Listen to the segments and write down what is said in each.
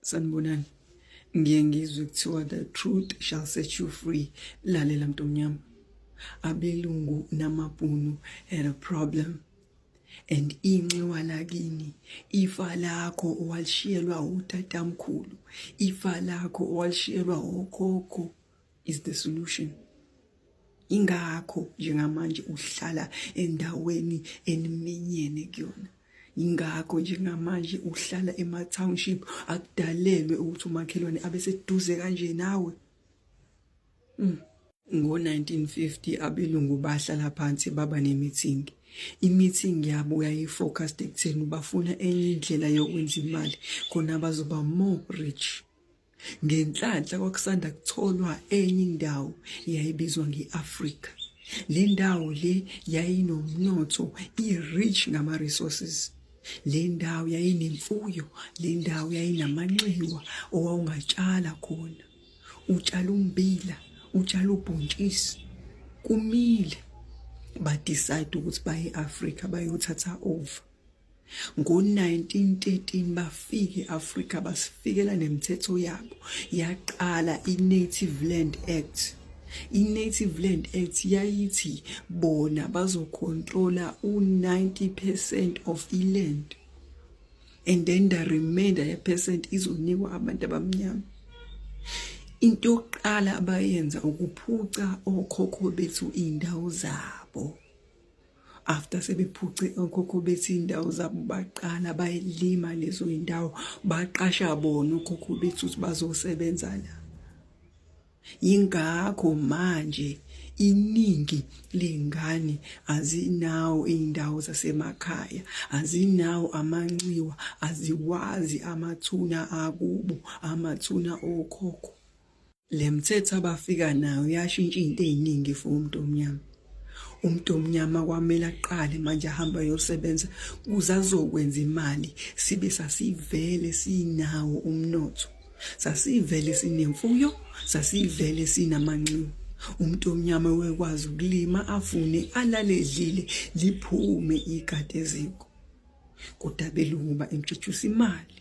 sanibonani ngiye ngizwe kuthiwa the truth shall set you free lalela mntu omnyama abelungu namabhunu had a problem and inxiwa lakini ifa lakho owalishiyelwa utatamkhulu ifa lakho owalishiyelwa okhokho is the solution ingakho njengamanje uhlala endaweni eniminyene kuyona ingakho njengamanje uhlala ema township akudalelwe ukuthi umakhelwane abe seduze kanje nawe mm. Ngo-1950 abelungu bahlala phansi baba nemithingi. Imithingi yabo yayifocused ekutheni bafuna enye indlela yokwenza imali khona bazoba more rich. Ngenhlanhla kwakusanda kutholwa enye indawo yayibizwa nge-Afrika. Le ndawo le yayinomnotho i-rich ngama-resources. Le ndawo yayinemfuyo, le ndawo yayinamanxiwa owawungatshala khona. Utshala umbila, utshala ubhontshisi, kumile. Badicide ukuthi baye e-Afrika bayothatha over. Ngo-1913 bafika e-Afrika basifikela nemithetho yabo yaqala i-Native Land Act. I-Native Land Act yayithi bona bazokhontrola u-90 percent of i-land and then the remainder ye-percent izonikwa abantu abamnyama. Into yokuqala abayenza ukuphuca okhokho bethu iy'ndawo zabo. after sebephuce okhokho bethi indawo zabo baqala bayilima lezo indawo baqasha bona okhokho bethi ukuthi bazosebenza la yingakho manje iningi lengane azinawo indawo zasemakhaya azinawo amanxiwa aziwazi amathuna akubo amathuna okhokho Le mthetho abafika nayo yashintsha into eziningi for umuntu omnyama. Umuntu omnyama kwamele aqale manje ahamba yosebenza kuze azokwenza imali sibe sasivele sinawo umnotho. Sasivele sinemfuyo, sasivele sinamanxiwa. Umuntu omnyama wekwazi ukulima afune alale edlile liphume ikade eziko. Kodwa belungu ba introduce imali.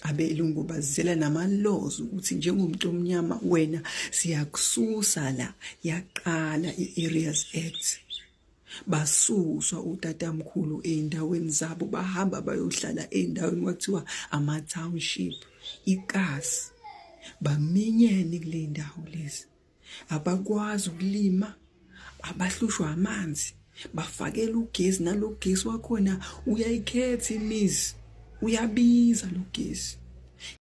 abelungu bazizela namalozi ukuthi njengomuntu omnyama wena siyakususa la yaqala i-areas act basuswa utatamkhulu ey'ndaweni zabo bahamba bayohlala ey'ndaweni kwathiwa ama-township ikasi baminyene kule ndawo lezi abakwazi ukulima abahlushwa amanzi bafakela ugesi nalogesi wakhona uyayikhetha imizi uyabiza logesi